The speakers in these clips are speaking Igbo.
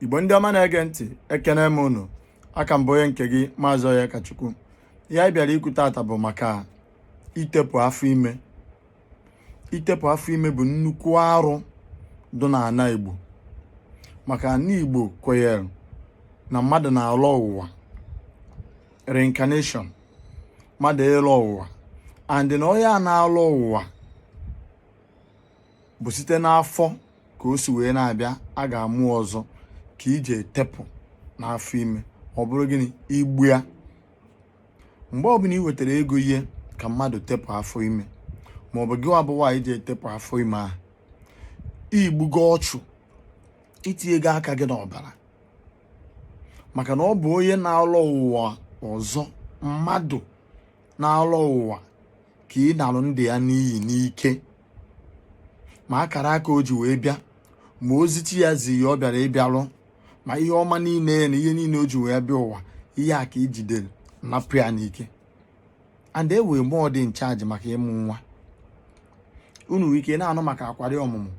igbo ndị ọma na-ege ntị ekene m unu a ka m bụ onye nke gị maazị onyekachukwu ihe anyị bịara ikwu tata bụ maka itepụ afọ ime itepụ afọ ime bụ nnukwu arụ dị n'ala igbo maka na igbo kwenyere na mmadụ na-alọ ụwa reincarnation mmadụ ịlọ ụwa and na onye a na-alọ ụwa bụ site n'afọ ka o si wee na-abịa a ga-amụ ọzọ ka i je etepụ n'afọ ime ọ bụrụ gịnị igbu ya mgbe ọbụla ị wetara ego ihe ka mmadụ tepụ afọ ime ma ọ bụ gị wa bụ nwaanyị ji etepụ afọ ime ahụ i gbugo ọchụ i tinyego aka gị n'ọbara maka na ọ bụ onye na-alọ ụwa ọzọ mmadụ na-alọ ụwa ka ị nalụ ndụ ya n'iyi n'ike ma akara aka o ji wee bịa ma ozi chi ya zi ya ọ bịara ịbịa lụ ma ihe ọma niile ya na ihe niile o ji wee bịa ụwa ihe a ka i jidere napụ ya n'ike and e wee mmụọ dị in charge maka ịmụ nwa unu nwere ike na-anụ maka akwari ọmụmụ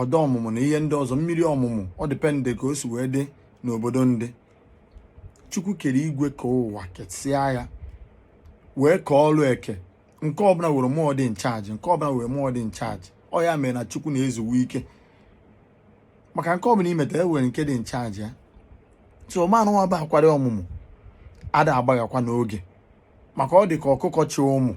ọda ọmụmụ na ihe ndị ọzọ mmiri ọmụmụ ọ depend ka o si wee dị n'obodo ndị chukwu kere igwe kee ụwa kesịa ya wee kee ọrụ eke nke ọbụla were mmụọ dị in charge nke ọbụla were mmụọ dị in charge ọ ya mere na chukwu na-ezuwe ike maka nke ọbụla i meta e nwere nke dị in charge ya so mmụọ nunwa bụ akwari ọmụmụ ada agbaghakwa n'oge maka ọ dị ka ọkụkọ chị ụmụ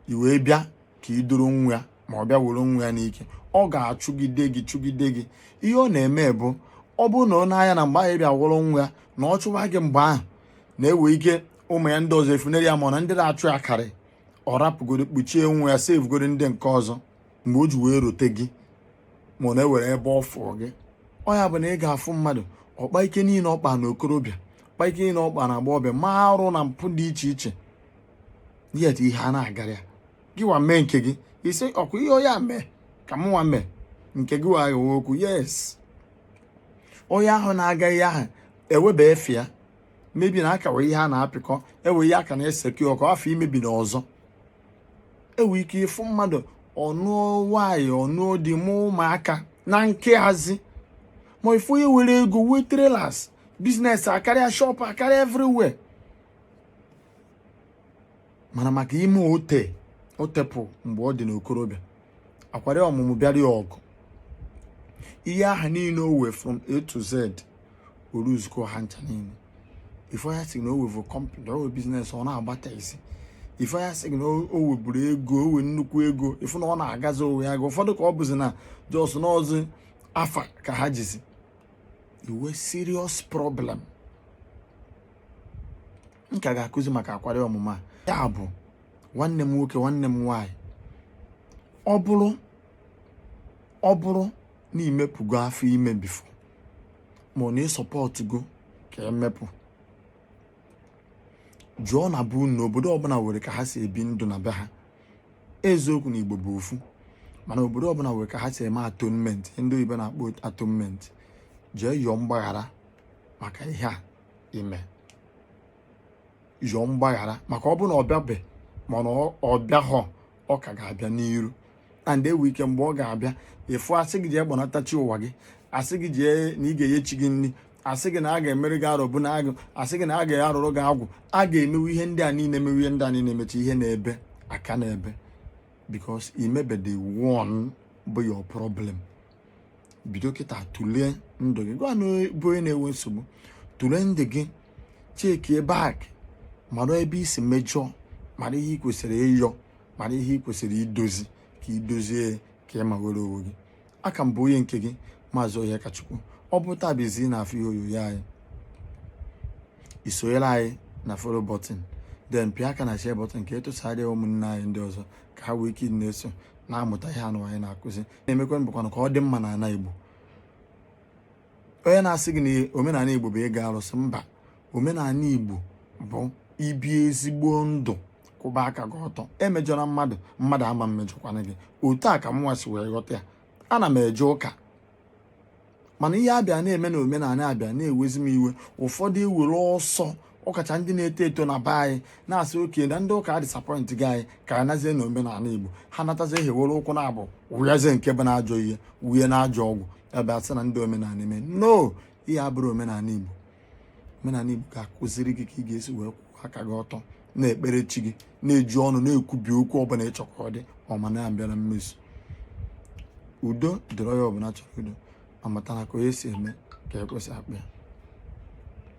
i wee bịa ka i duru nwa ya ma ọ bịa were nwa ya n'ike ọ ga-achụgide gị chụgide gị ihe ọ na-eme bụ ọ bụrụ na ọ na-anya na mgbe ahụ bịa wuru nwa ya na ọ chụwa gị mgbe ahụ na e wee ike ụmụ ya ndị ọzọ efunere ya ma na ndị na-achụ ya karị ọ rapụgoro kpuchie nwa ya sevugoro ndị nke ọzọ mgbe o ji wee rote gị ma ọ na-ewere ebe ọ fụọ gị ọ ya bụ na ị ga-afụ mmadụ ọ kpaa ike niile ọ kpa na okorobịa kpaa ike niile ọ kpa na agbọghọbịa ma arụ na mpụ dị iche iche yet ihe ana-agara ya gị wa mee nke gị ị sị ọ kwa ihe onye a mee ka m nwa mee nke gị wa aghọwa okwu yes onye ahụ na-aga ihe ahụ eweba efe ya maybe na akawa ihe a na-apịkọ ewe ihe aka na-eseke ọkụ afọ maybe na ọzọ e wee ike ịfụ mmadụ ọ nụọ nwanyị ọ nụọ di mụ ụmụaka na nke hazi ma ị fụ onye were ego wee trailers business akarịa shop akarịa everywhere mana maka ime o te o tepụ mgbe ọ dị n'okorobịa akwari ọmụmụ bịara ya ọgụ ihe aha niile o wee from a to z oruzuko ha ncha niile ị fụ ya sị na o webu company o we business ọ na-agbata isi ị fụ ya sị na o weburu ego o we nnukwu ego ị fụ na ọ na-agazi onwe ya ga ụfọdụ ka ọ bụzi na just n'ọzi afa ka ha jizi iwe serious problem m ka ga-akụzi maka akwari ọmụmụ ya bụ nwanne m nwoke nwanne m nwaanyị ọ bụrụ ọ bụrụ na i mepụgo afọ ime before ma ọ na ị supportụgo ka e mepụ jụọ na bụ na obodo ọbụla nwere ka ha si ebi ndụ na be ha eziokwu na igbo bụ ofu mana obodo ọbụla nwere ka ha si eme atonement ndị oyibo na-akpọ atonement jee yọọ mgbaghara maka ihe a i me yọọ mgbaghara maka ọ bụ na ọ bịabe mana ọ bịahọ ọ ka ga-abịa n'iru and e we ike mgbe ọ ga-abịa ị fụ a sị gị jee kpọnata chi ụwa gị a sị gị jee na ị ga-enye chi gị nri a sị gị na a ga-emere gị arọbụnagụ a sị gị na a ga-arụrụ gị agwụ a ga-emewu ihe ndị a niile emewu ihe ndị a niile emecha ihe na-ebe aka na-ebe because i mebede one bụ your problem bido kịta tụlee ndụ gị gịwa na bụ onye na-enwe nsogbu tụlee ndụ gị chekie back mara ebe i si mejọọ mara ihe ị kwesịrị ịyọ mara ihe ị kwesịrị idozi ka i dozie ka ị ma were onwe gị a ka m bụ onye nke gị maazị Onyekachukwu ọ bụ taa bụ izi na-afụ ihe onyonyo anyị i sonyere anyị na follow button then pịa aka na share button ka e tụsara ụmụnne anyị ndị ọzọ ka ha wee ike na-eso na-amụta ihe anụ anyị na-akụzi na-emekwa mbụkwanụ ka ọ dị mma n'ala Igbo onye na-asị gị na omenala Igbo bụ ịgọ arụsị mba omenala Igbo bụ ibi ezigbo ndụ kwụba aka gị ọtọ emejọla mmadụ mmadụ ama mmejọkwana gị otu a ka mụnwa si wee ghọta ya ana m eje ụka mana ihe a bịa na-eme na omenala a bịa na-ewezi m iwe ụfọdụ ewere ọsọ ọkacha ndị na-eto eto na be anyị na-asị okay na ndị ụka disappointgo anyị ka a nazie na omenala igbo ha natazie ewere ụkwụ naabọ wụyezie nke bụ na ajọ ihe wụye na ajọ ọgwụ ebe a sị na ndị omenala eme no ihe a abụrọ omenala igbo omenala Igbo ga-akụziri gị ka ị ga-esi wee kwụọ aka gị ọtọ na-ekpere chi gị na-eji ọnụ na-ekwubi okwu ọbụla ị chọ ka ọ dị ọma na-abịa na mmezu udo dịrị onye ọbụla chọrọ udo ma mata na ka onye si eme ka ekwe si akpọ ya